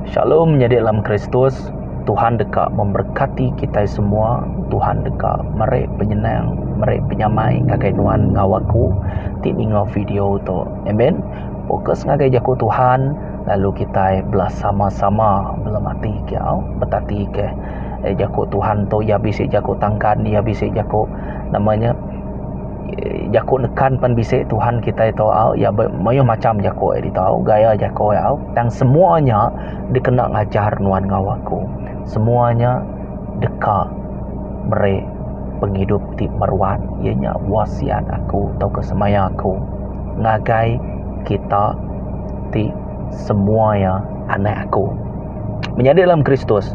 Shalom menyadi dalam Kristus, Tuhan deka memberkati kitai semua, Tuhan deka meri penyenang, meri penyamai ngagai nuan enggau aku ti ninga video tu. Amen. Fokus ngagai jaku Tuhan lalu kitai belah sama-sama belum mati ke au betati ke eh, jaku Tuhan tu ia bisi jaku tangkan, ia bisi jaku namanya jaku nekan pen bisi tuhan kitai tu au iya be mayuh macham jaku iya ditu au gaya jaku iya au tang semua nya dikena ngajar nuan enggau aku semua nya deka meri pengidup ti meruan iya nya wasiat aku tauka semaya aku ngagai kita ti semua iya anak aku menyadi dalam kristus.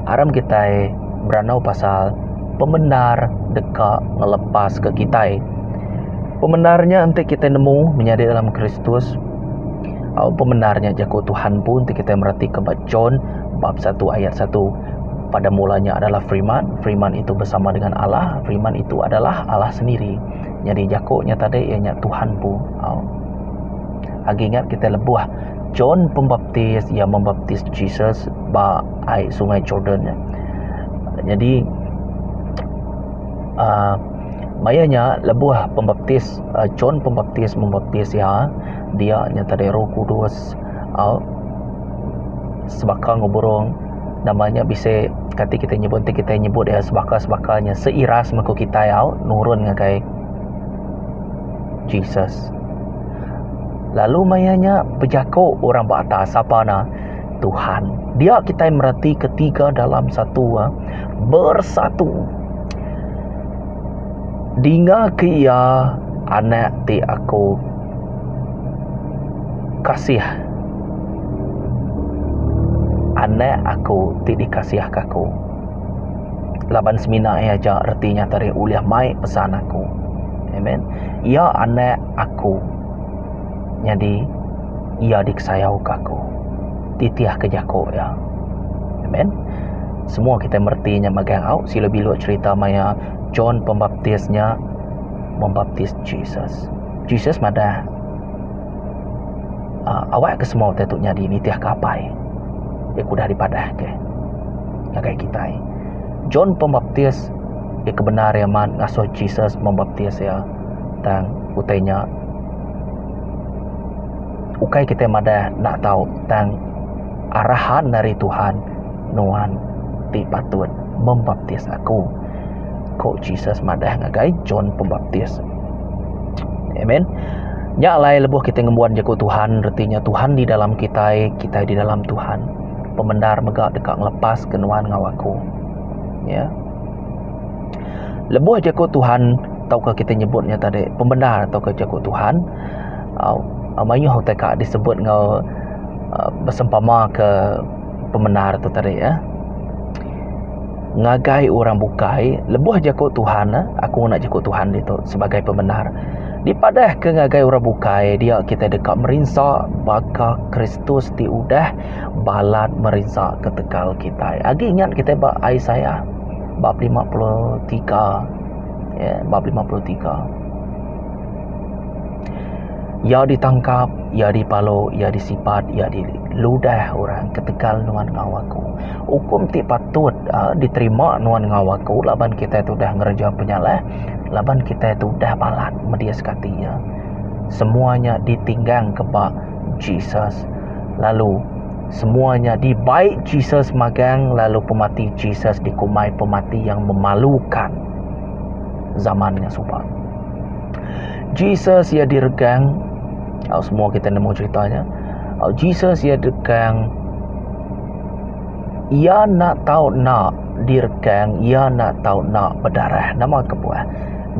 Aram kitai berandau pasal pemendar deka ngelepaska kitai. Pemendar nya enti kitai nemu menyadi dalam Kristus. Au pemendar nya jaku Tuhan empu enti kitai meratika ba John bab satu ayat satu. Pada mula nya adalah Firiman, Firiman itu besama dengan Allah, Firiman itu adalah Allah sendiri. Nyadi jaku nya tadi iya nya Tuhan empu. Au. Agi ingat kitai lebuh. John Pembaptis iya membaptis Jesus ba ai sungai Jordan nya. Nyadi aaa maya nya lebuh pembaptis aaa John Pembaptis membaptis iya, dia nya tadai Roh Kudus au sebaka ngeburung nama nya bisi kati kitai nyebut enti kitai nyebut iya sebaka-sebaka nya seiras mengku kitai au nurun ngagai Jesus. Lalu maya nya bejako orang ba atas sapa na Tuhan. Dia kitai mereti ketiga dalam satu ah bersatu. Dinga ke iya anak ti aku kasih. Anak aku ti dikasihka aku. laban semina iya aja reti nyata diri ulih mai pesan aku. Amen. Iya anak aku. Nyadi iya dikesayauka aku. Titihka jaku iya. Amen. Semua kita mereti nya megang au sila bilu cerita maya John Pembaptis nya membaptis Jesus. Jesus madah uh, awak ke semua utai tu nyadi nitihka apai. Dia kudah dipadahka. ngagai kitai. John Pembaptis iya ke bendar iya amat ngasuh Jesus membaptis iya tang utai nya ukai kitai madah enda tau tang arahan ari Tuhan nuan ti patut membaptis aku ku Jesus madah ngagai John Pembaptis. Amen. Nya alai lebuh kitai ngembuan jaku Tuhan reti nya Tuhan di dalam kitai, kitai di dalam Tuhan. pemendar mega deka ngelepas ke nuan enggau aku. Ya. Lebuh jaku Tuhan tauka kita nyebut nya tadi pemendar tauka jaku Tuhan uh, mayuh utai ka disebut enggau uh, bersempama ke pemendar tu tadi ya. Ngagai orang bukai lebuh jaku Tuhan eh, aku ngena jaku Tuhan itu sebagai pemendar. Dipadah ke ngagai orang bukai dia kita deka merinsa baka Kristi. Kristus ti udah balat merinsa ketegal kitai. Agi ingat kitai ba Isaiah bab 53 ya bab 53. Ia ditangkap, ia dipalo, ia disipat, ia diludah orang ketegal nuan enggau aku. Ukum ti patut uh, diterima nuan enggau aku laban kitai tu udah ngereja penyalah, laban kitai tu udah balat media sekati ia. Semuanya ditinggang kebak Jesus lalu semua nya dibai Jesus magang lalu pemati Jesus dikumbai pemati yang memalukan zaman nya suba. Jesus ia diregang au semua kita nemu cerita nya. Au Jesus ia diregang ia nak tau nak diregang ia nak tau nak bedarah nama kebuah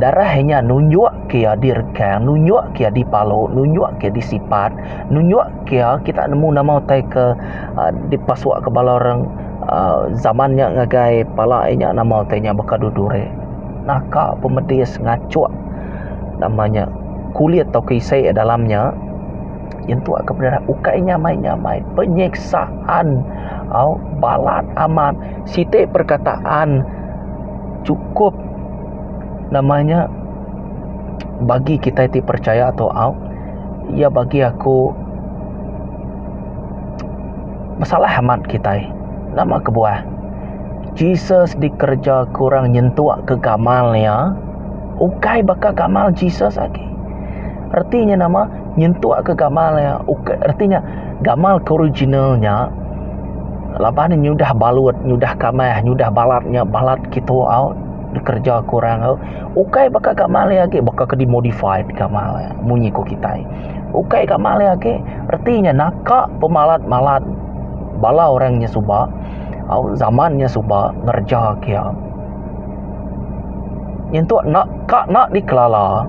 darah nya nunjuk kia di rekang nunjuk kia di palu nunjuk kia di sipat nunjuk kia kita nemu nama utai ke uh, di pasuk ke bala orang uh, zaman nya ngagai pala inya nama utai nya baka du duri naka pemedis ngachuk nama nya kulit tau ke isi dalam nya yen tu ke peda ukai nya mai nya mai penyiksaan au balat amat siti perkataan cukup nama nya bagi kitai ti percaya atau au iya bagi aku besalah amat kitai nama kebuah Jesus dikereja ke orang nyentuk ke gamal iya ukai baka gamal Jesus agi reti nya nama nyentuk ke gamal iya ukai reti nya gamal ke original nya laban ne nyudah balut nyudah kamih nyudah balat nya balat kitu au dikereja ke orang au. Ukai baka ka malai agi baka ke di modify ka malai munyi ku kitai. Ukai ka malai agi reti nya naka pemalat-malat bala orang nya suba au zaman nya suba ngereja kia. Nyentuk enda ka enda dikelala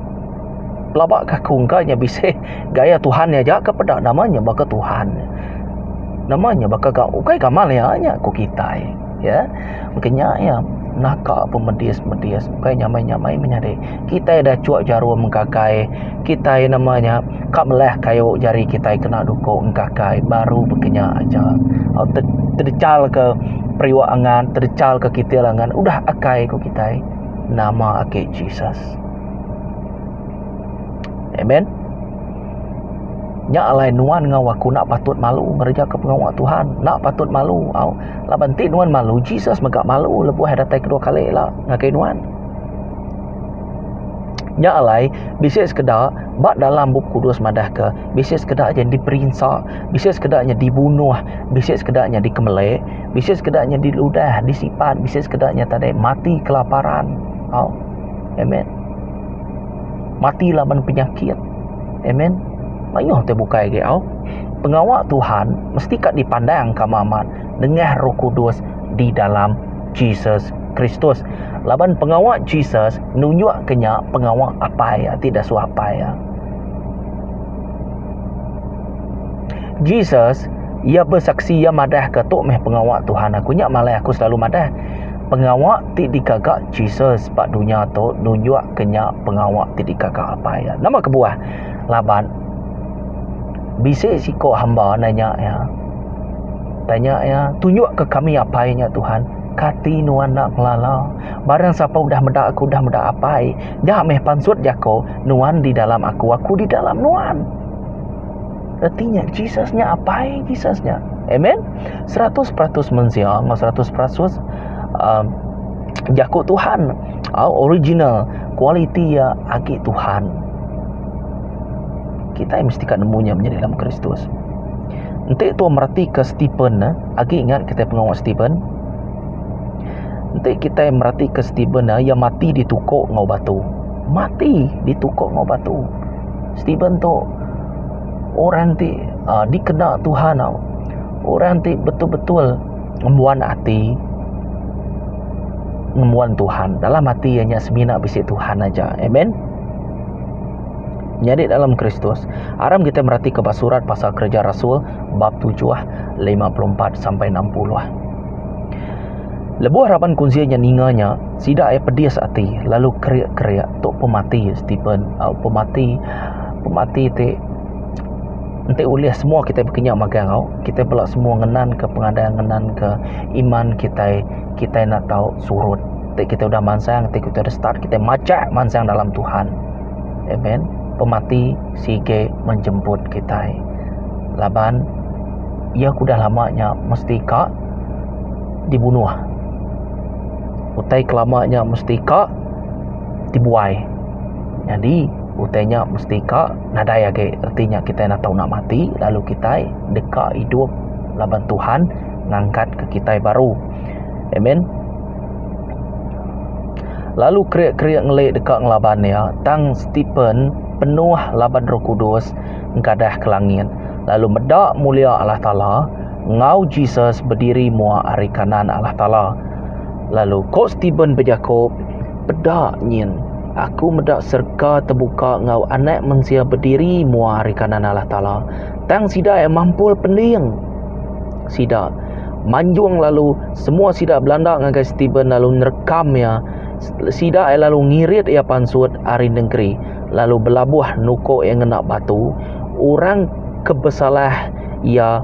pelaba ka aku engka nya bisi gaya tuhan nya aja ke peda nama nya baka tuhan. Nama nya baka ka ukai ka malai nya ku kitai. ya engka nya ya naka pemedis-medis bukai nyamai-nyamai menyadi kitai dah cuk jarum engkakai kitai nama nya ka meleh kayu jari kitai kena duku engkakai baru be kinya aja au te tedechal ke periuk angan tedechal ke kitil angan udah akai ku kitai nama ake Jesus amen nya alai nuan enggau aku enda patut malu ngereja ke pengawa Tuhan enda patut malu au. Laban ti nuan malu Jesus mega malu lebuh iya datai kedua kali ila ngagai nuan. Nya alai bisi sekeda ba dalam bup kudus madahka bisi sekeda nya diperinsa, bisi sekeda nya dibunuh, bisi sekeda nya dikemelik, bisi sekeda nya diludah, disipat, bisi sekeda nya tadi mati kelaparan. Au. Amen. Mati laban penyakit. Amen. Mayuh te bukai agi au. Pengawa Tuhan mesti ka dipandang ka mak mat nengah roh kudus di dalam Jesus Kristus. Laban pengawa Jesus nunjuk ke nya pengawa apai ati dasuh apai iya. Jesus iya besaksi iya madah ke tu meh pengawa Tuhan aku nya malai aku selalu madah. Pengawa ti digaga Jesus ba dunya tu nunjuk ke nya pengawa ti digaga apai iya. Nama kebuah? Laban. Bisi siko hamba nanya iya. Tanya iya, Tunjukka kami apai nya, Tuhan. Kati nuan enda ngelala? Barang sapa udah meda aku udah meda Apai. Nya meh pansut jako, Nuan di dalam aku, aku di dalam nuan. Reti nya Jesus nya Apai Jesus nya. Amen. Seratus peratus mensia enggau seratus peratus uh, jako Tuhan. Uh, original. Kualiti iya agi Tuhan. Kitai mesti ka nemu nya menyadi dalam Kristus. Enti tuan meratika Stephen nah, agi ingat kitai pengawa Stephen? Enti kitai meratika Stephen nah, ia mati ditukuk ngau batu. Mati ditukuk ngau batu. Stephen tu orang ti uh, dikena Tuhan tau. Orang ti betul-betul ngembuan ati ngembuan Tuhan. Dalam ati ianya semina bisi Tuhan aja. Amen. Nyadi dalam Kristus, aram kitai meratika ba surat pasal Kereja Rasul bab 7, 54 sampai 60. Lebuh raban kunsil nya ninga nya, sida ai pedis ati lalu kerik-kerik tu pemati Stepen, uh, pemati pemati ti enti ulih semua kita berkenya magang au kita bela semua ngenan ke pengadang ngenan ke iman kita kita nak tau surut Ti kita udah mansang, ti kita udah start, kita majak mansang dalam Tuhan. Amen. Pemati sige menjemput kita. Laban ia kudah lama nya mesti ka dibunuh. Utai kelama nya mesti ka dibuai. Jadi utai nya mesti ka nadai agi reti nya kita enda tau nak mati lalu kita deka idup laban Tuhan ngangkat ke kita baru. Amen. Lalu kerik-kerik ngeli deka ngelaban iya, tang Stepen penuh laban Roh Kudus engkadah ke langit, lalu meda mulia Allah Taala, enggau Jesus bediri mua ari kanan Allah Taala. Lalu ko Stepen bejako, Peda nyin, aku meda serega tebuka enggau Anak Mensia bediri mua ari kanan Allah Taala, tang sida ia mampul pending. sida manjung lalu semua sida belanda ngagai Stephen lalu nerekam iya sida ai lalu ngirit iya pansut ari nengeri lalu belabuh nuko iya ngena batu orang ke besalah iya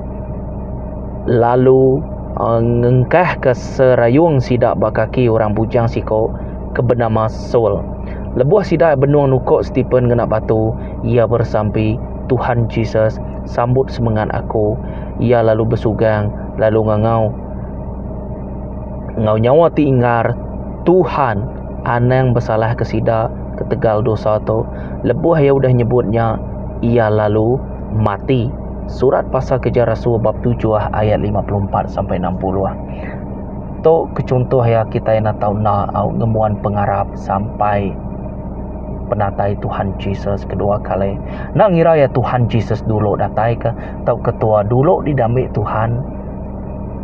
lalu aa ngengkah ka serayung sida ba kaki orang bujang siko ke benama Saul lebuh sida benung nuko Stephen ngena batu iya bersampi Tuhan Jesus, sambut semengat aku. Iya lalu besugang, lalu ngangau enggau nyawa ti inggar, Tuhan, anang besalahka sida ketegal dosa tu. Lebuh iya udah nyebut nya, iya lalu mati. Surat Pasal Keja Rasul bab 7 ayat 54 sampai 60. Tu ke chunto iya kitai enda tau enda au ngembuan pengarap. sampai penatai Tuhan Jesus kedua kali. Nak ngira ya Tuhan Jesus dulu datai ke tau ketua dulu di dami Tuhan.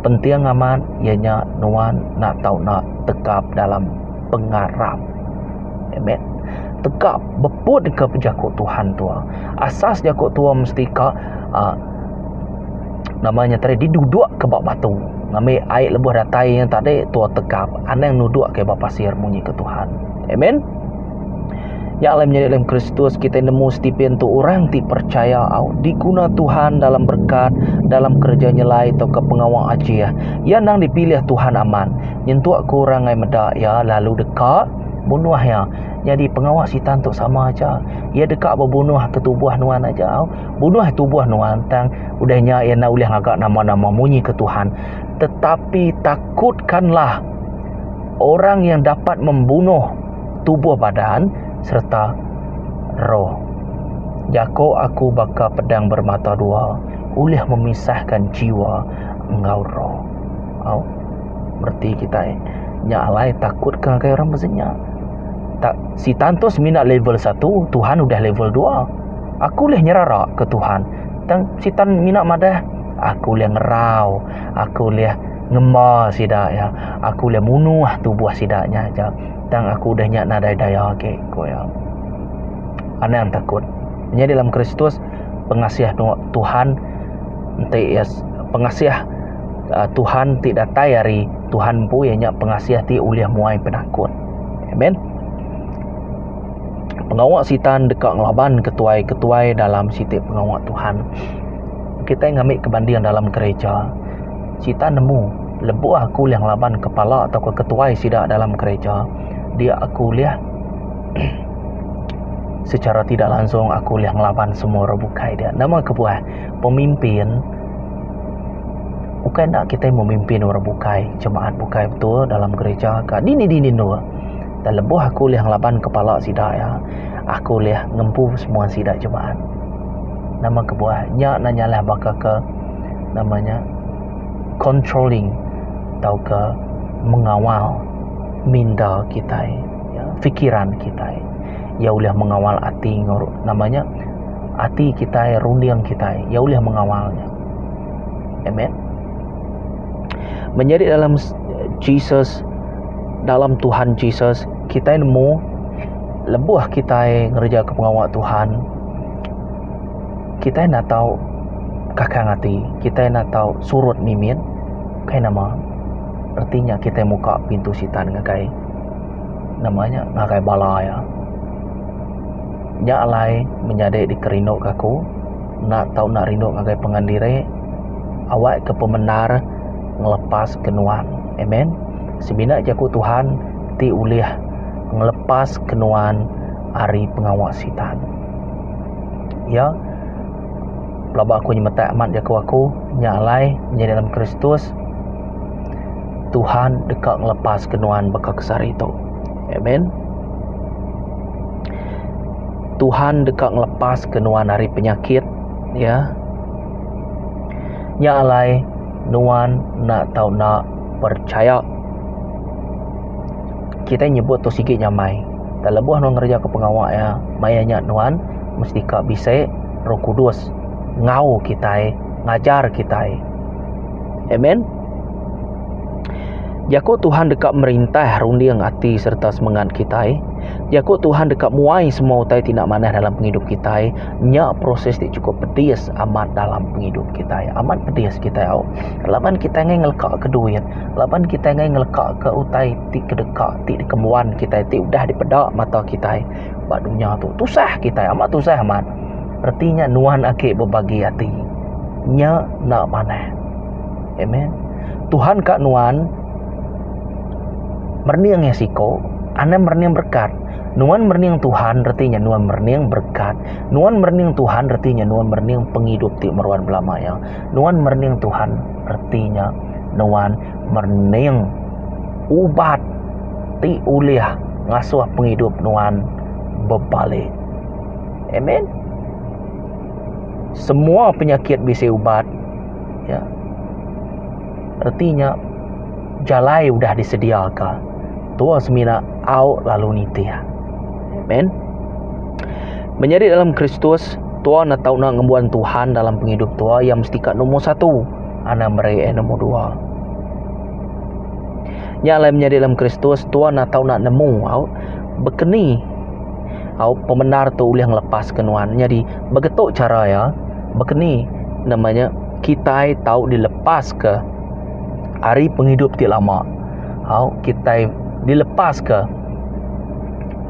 Penting amat ianya nuan nak tau nak tegap dalam pengarap. Amen. Tegap beput ke pejaku Tuhan tua. Asas jaku tua mesti ka uh, Nama nya tadi diduduk ke ba batu. Ngambil air lebuh datai nya tadi tua tegap anang nuduk ke ba pasir munyi ke Tuhan. Amen. Ya lem nyadi lem Kristus kita nemu Stephen tu orang ti percaya au diguna Tuhan dalam berkat, dalam kerja nyelai tauka pengawa ajih. Ia nang dipilih Tuhan amat. Nyentuk ke orang ngai meda ia lalu deka bunuh ia. Nyadi pengawa Sitan tu sama aja. Ia deka bebunuh ke tubuh nuan aja au. Bunuh tubuh nuan tang udah nya iya enda ulih ngaga nama-nama munyi ke Tuhan. Tetapi takutkanlah orang yang dapat membunuh tubuh badan sereta roh. Jako aku baka pedang bermata dua ulih memisahkan jiwa enggau roh. Au. Bereti kitai nya alai takutka ngagai orang bezenya. Tak sitan tu semina level satu, Tuhan udah level dua. Aku ulih nyerara ke Tuhan. Tang Sitan mina madah, Aku ulih ngerau. Aku ulih ngemba sida iya. Aku ulih munuh tubuh sida nya aja. Tang aku udah nya nadai daya agi, ku iya. Anang takut. Menyadi dalam Kristus, pengasih Tuhan enti iya pengasih eh, Tuhan ti datai ari Tuhan empu iya nya pengasih ti ulih muai penakut. Amen. Pengawa Sitan deka ngelabanka tuai-ketuai dalam siti pengawa Tuhan. Kitai ngambika banding dalam gerija. Sitan nemu lebuh aku ulih ngelaban kepala atau ketuai sida dalam gerija, dia aku ulih secara tidak langsung aku ulih ngelaban semua orang bukai dia. Nama kebuah? Pemimpin ukai enda kitai memimpin orang bukai, jemaat bukai betul dalam gerija ka dini-dini endur. Tang lebuh aku ulih ngelaban kepala sida iya, aku ulih ngempu semua sida jemaat. Nama kebuah? Nya enda nyalah baka ke nama nya controlling tauka mengawal minda kitai, fikiran kitai. Iya ulih mengawal ati nama nya ati kitai, runding kitai. Iya ulih mengawal nya. Amen. Menyadi dalam Jesus. Dalam Tuhan Jesus, kitai nemu lebuh kitai ngerejaka pengawa Tuhan, kitai enda tau kakang ati, kitai enda tau surut mimit. Kai nama, reti nya kitai muka pintu Sitan ngagai nama nya, ngagai bala iya. Nya alai menyadi dikerinduka aku, enda tau enda rindu ngagai pangan diri, awakka pemendar ngelepaska nuan. Amen. Semina jaku Tuhan ti ulih ngelepaska nuan ari pengawa Sitan. Ya. Pelaba aku nyemetak amat jaku aku nya alai nyadi dalam Kristus Tuhan deka ngelepaska nuan baka ke sehari tu. Amen. Tuhan deka ngelepaska nuan ari penyakit ya. Nya alai nuan enda tau enda Perchaya kitai nyebut tu sigi nyamai. Tang lebuh nuan ngerejaka pengawa iya, maya nya nuan mesti ka bisi Roh Kudus enggau kitai, ngajar kitai. Amen. Jaku Tuhan deka merintah runding ati sereta semengat kitai. Jaku Tuhan deka muai semua utai ti enda manah dalam pengidup kitai. Nya proses ti chukup pedis amat dalam pengidup kitai. Amat pedis kitai au. Laban kitai enggai ngelekaka duit, laban kitai enggai ngelekaka utai ti kedeka ti dikembuan kitai ti udah dipeda mata kitai ba dunya tu. Tusah kitai, amat tusah amat. Reti nya nuan agi bebagi ati. Nya enda manah. Amen. Tuhan ka nuan merening iya siko, anang merening berekat. Nuan merening Tuhan reti nya nuan merening berekat. Nuan merening Tuhan reti nya nuan merening pengidup ti meruan belama iya. Nuan merening Tuhan, reti nya nuan merening ubat ti ulih ngasuh pengidup nuan bebali. Amen. Semua penyakit bisi ubat. Ya. Reti nya jalai udah disediaka. Tua semina au lalu nitih. Amen. Menyadi dalam Kristus, tua na tau na ngembuan Tuhan dalam pengidup tua, ia mesti ka nombor satu. Ana meri eh nombor dua. Nya alai menyadi dalam Kristus, tua na tau na nemu au bekeni au pemendar tu ulih ngelepas ke nuan. Nyadi begetok cara ia bekeni namanya kitai tau dilepas ke ari pengidup ti lama. Au kitai dilepas ke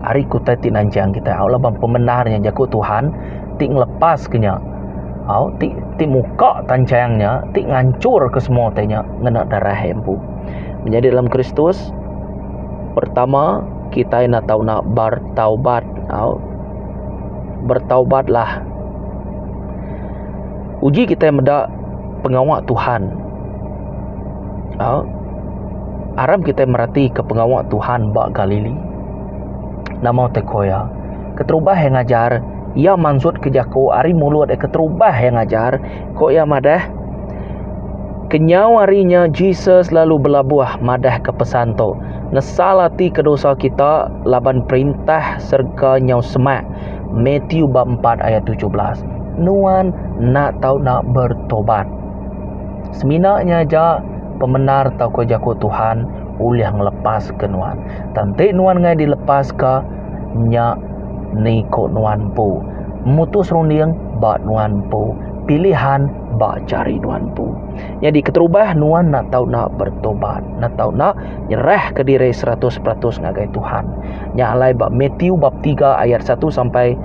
ari kutai ti nanjang kitai au laban pemendar nya jaku Tuhan ti ngelepas ke nya au ti ti muka tanjang nya ti ngancor ke semua utai nya ngena darah iya empu menyadi dalam Kristus pertama kitai enda tau nak bertaubat au bertaubatlah. Uji kitai meda pengawa Tuhan. Aram kitai meratika pengawa Tuhan ba Galili. Nama utai ko iya? Keterubah iya ngajar, iya mansutka jaku ari mulut iya keterubah iya ngajar. Ko iya madah, Kenyau ari nya Jesus lalu belabuh madahka pesan tu, Nesal atika dosa kita laban Perintah serega nyau semak. Mathew bab empat ayat tujuh belas. Nuan nak tau nak bertobat. Semina nya aja pemendar tauka jaku Tuhan ulih ngelepaska nuan. Tang enti nuan ngai dilepaska nya niko nuan empu. Mutus runding ba nuan empu. Pilihan ba jari nuan empu. Nyadi keterubah nuan nak tau nak bertobat. Nak tau nak nyerahka diri seratus peratus ngagai Tuhan. Nya alai ba Mathew bab 3 ayat 1 sampai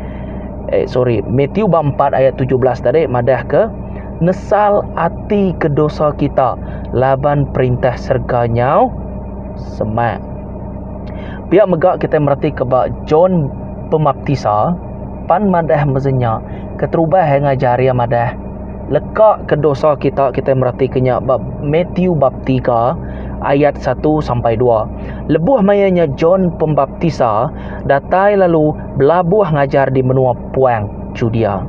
eh sorry, Mathew bab 4 ayat 17 tadi madah ke nesal ati ke dosa kita laban perintah serga nyau semak. Pia mega kita mereti ke ba John Pemaptisa pan madah meza nya keterubah ngajar iya madah Leka ke dosa kita kitai merati ke nya ba Matthew bab 3 ayat 1 sampai 2. Lebuh maya nya John Pembaptisa datai lalu belabuh ngajar di menua puang Judea.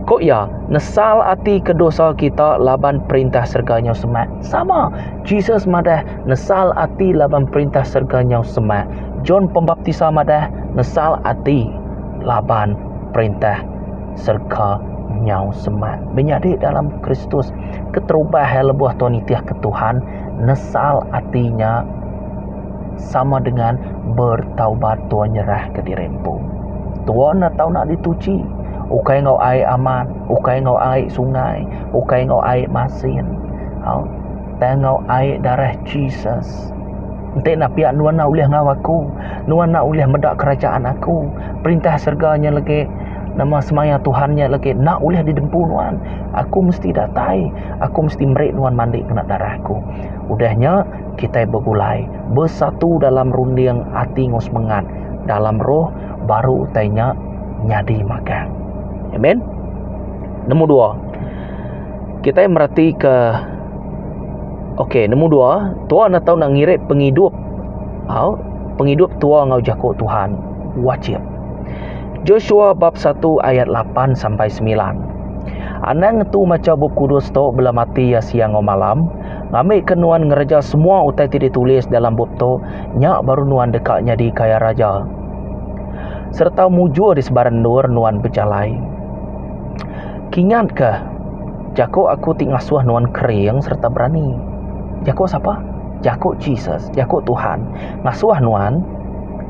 Ko iya, nesal ati ke dosa kita laban perintah serega nyau semak. Sama, Jesus madah nesal ati laban perintah serega nyau semak. John Pembaptisa madah nesal ati laban perintah serka nyau semak menyadi dalam Kristus keterubah iya lebuh tau nitihka Tuhan nesal ati nya sama dengan bertaubat tau nyerahka diri empu tau ne tau nadi tuchi ukai enggau ai aman ukai enggau ai sungai ukai enggau ai masin au tang enggau ai darah Jesus enti enda pia nuan enda ulih enggau aku nuan enda ulih meda kerajaan aku perintah serega nya legi. Nama semaya Tuhan nya legi enda ulih didempu nuan? Aku mesti datai. Aku mesti meri nuan mandi ngena darah aku. Udah nya, kitai begulai, besatu dalam runding ati enggau semengat dalam roh, baru utai nya nyadi magang. Amen. Nombor dua, kitai meretika, okey, nombor dua, Tuhan enda tau nak ngirit pengidup, au, pengidup tua enggau jaku Tuhan wajib. Joshua bab 1 ayat 8 sampai 9. Anang ngetu macha Bup Kudus tu bela mati ya siang enggau malam, ngambika nuan ngereja semua utai ti ditulis dalam bup tu, nya baru nuan deka nyadi kaya raja sereta mujur di sebarang endur nuan bejalai. Kingatka, jaku aku ti ngasuh nuan kering sereta berani. Jaku sapa? Jaku Jesus, jaku Tuhan ngasuh nuan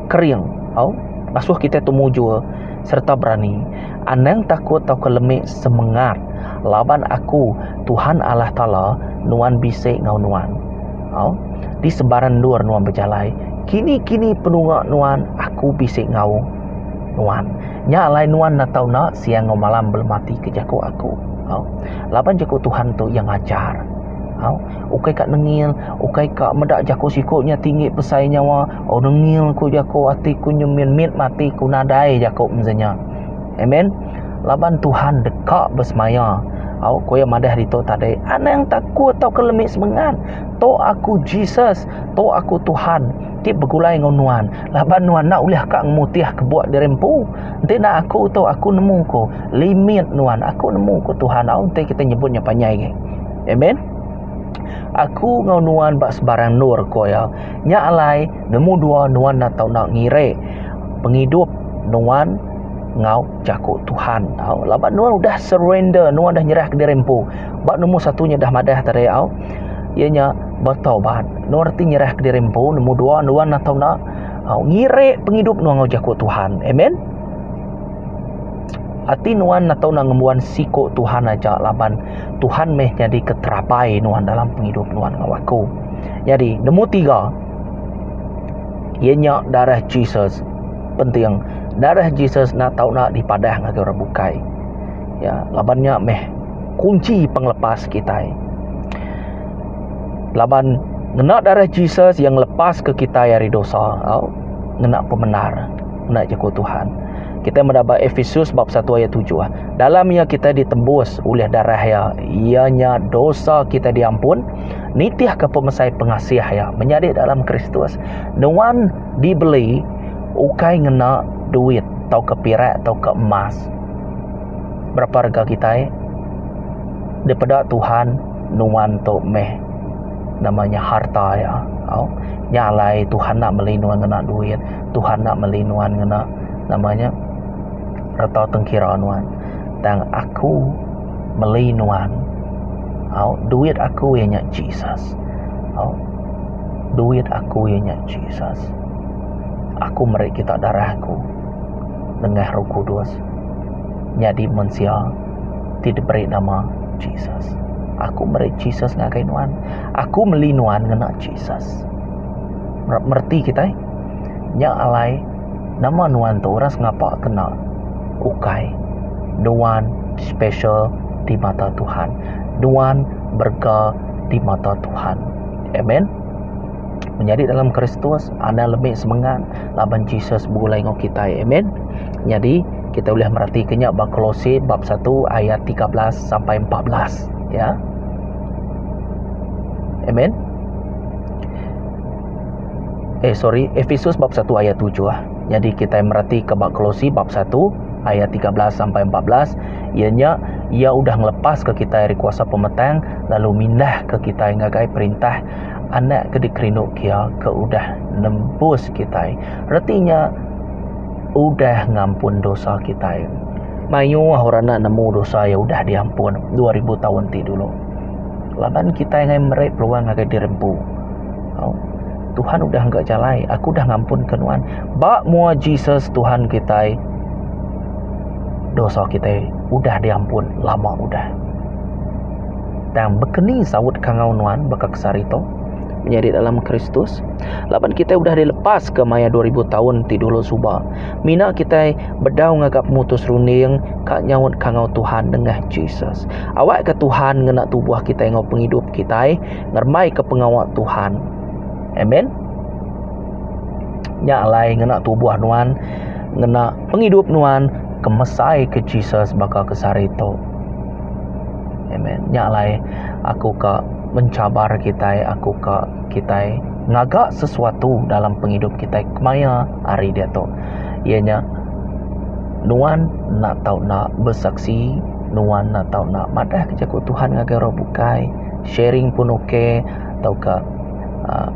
kering tau ngasuh kitai tu mujur sereta berani anang takut tauka lemi semengat laban aku Tuhan Allah taala nuan bisi enggau nuan tau di sebarang endur nuan bejalai kini kini penunga nuan aku bisi enggau nuan nya alai nuan enda tau enda siang enggau malam belematik ke jaku aku tau laban jaku Tuhan tu iya ngajar tau ukai ka nengil ukai ka meda jaku siko nya tinggi besai nyawa. Oh dengil ku jako ati ku nyemin mit mati ku nadai jako meza nya. Amen. Laban Tuhan deka besemaya. Au ku iya madah ditu tadi. Anang takut tauka lemi semengat. Tu aku Jesus. Tu aku Tuhan ti begulai enggau nuan. Laban nuan enda ulih ka ngemutih ke buk diri empu. Enti enda aku tu aku nemu ku limit nuan. Aku nemu ku Tuhan. Au enti kita nyebut nya panjai agi. Amen. Aku enggau nuan ba sebarang endur ku iya. Nya alai, nemu dua nuan enda tau enda ngirik pengidup nuan enggau jaku Tuhan tau. Laban nuan udah surrender, nuan udah nyerahka diri empu. Ba nemu satu nya udah madah tadi au, iya nya betaubat. Nuan reti nyerahka diri empu, nemu dua nuan enda tau enda au ngirik pengidup nuan enggau jaku Tuhan. Amen. Ati nuan enda tau enda ngembuan siku Tuhan aja laban Tuhan meh nyadika terabai nuan dalam pengidup nuan enggau aku. Nyadi, nemu tiga. Iya nya darah Jesus. Penting, darah Jesus nak tau nak dipadah ngagai orang bukai. Ya, laban nya meh kunci pengelepas kitai. Laban ngena darah Jesus yang lepas ke kitai ari dosa, au, ngena pemendar, ngena jaku Tuhan. Kita meda ba Efesus bab 1 ayat 7. Dalam iya kita ditembus oleh darah iya, iya nya dosa kita diampun nitihka pemesai pengasih iya menyadi dalam Kristus. Nuan dibeli ukai ngena duit tauka perak tauka emas. Berapa rega kitai dipeda Tuhan nuan tu meh nama nya harta iya tau. Nya alai Tuhan enda meli nuan ngena duit, Tuhan enda meli nuan ngena nama nya reta tengkira nuan. Tang aku. meli nuan au duit aku iya nya Jesus au duit aku iya nya Jesus aku meri kita darah aku nengah roh kudus nyadi mensia ti diberi nama Jesus aku meri Jesus ngagai nuan aku meli nuan ngena Jesus mreti kitai nya alai. Nama nuan tu orang sengapa kena ukai nuan special di mata Tuhan nuan berega di mata Tuhan amen menyadi dalam kristus anang lebih semangat laban Jesus begulai enggau kita amen nyadi kita ulih mereti ke nya ba kolose bab satu ayat tiga belas sampai empat belas ya amen. eh sorry Efesus bab 1 ayat 7 ah. Jadi kita merati ke bab Kolose bab 1 ayat 13 sampai 14 ia nya ia udah ngelepas ke kita dari kuasa pemetang lalu mindah ke kita ngagai perintah anak ke dikerindu kia ke udah nembus kita. Retinya udah ngampun dosa kita. Mayu ah orang nak nemu dosa ia udah diampun 2000 tahun ti dulu. Laban kita ngai meri peluang ngagai diri empu. Au. Tuhan udah engga jalai, aku udah ngampunka nuan. Ba mua Jesus Tuhan kitai, dosa kitai udah diampun lama udah. Tang bekeni saut kangau nuan baka kesari tu? Menyadi dalam Kristus? Laban kitai udah dilepaska maya 2000 taun ti dulu suba. Mina kitai bedau ngaga pemutus runding ka nyaut kangau Tuhan nengah Jesus. Awakka Tuhan ngena tubuh kitai enggau pengidup kitai. ngerembaika pengawa Tuhan. Amen. Nya alai ngena tubuh nuan, ngena pengidup nuan kemesai ke Jesus baka ke sehari tu. Amen. Nya alai aku ka mencabar kitai, aku ka kitai ngaga sesuatu dalam pengidup kitai kemaya hari dia tu. Iya nya nuan enda tau nak besaksi, nuan enda tau nak madah ke jaku Tuhan ngagai orang bukai. sharing pun ok tauka uhh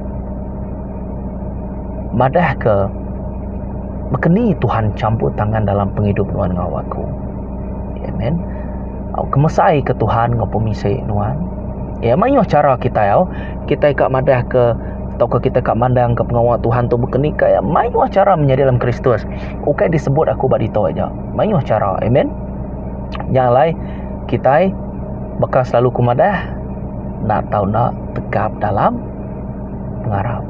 madah ke baka ni Tuhan champur tangan dalam pengidup nuan enggau aku amen au kemesai ke Tuhan enggau pemisai nuan iya maioh chara kitai au kitai ka madah ke tauka kitai ka mandang ke pengawa Tuhan tu baka ni ka iya maioh chara menyadi dalam kristus ukai disebut aku ba ditu aja maioh chara amen nya alai. kitai baka selalu ku madah enda tau enda tegap dalam pengarap.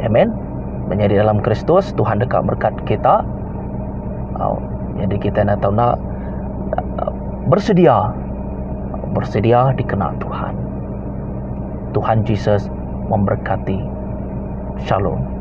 Amen. Menyadi dalam Kristus Tuhan deka berkat kita. Au jadi kita enda tau enda bersedia bersedia dikena Tuhan. Tuhan Jesus memberkati. Shalom.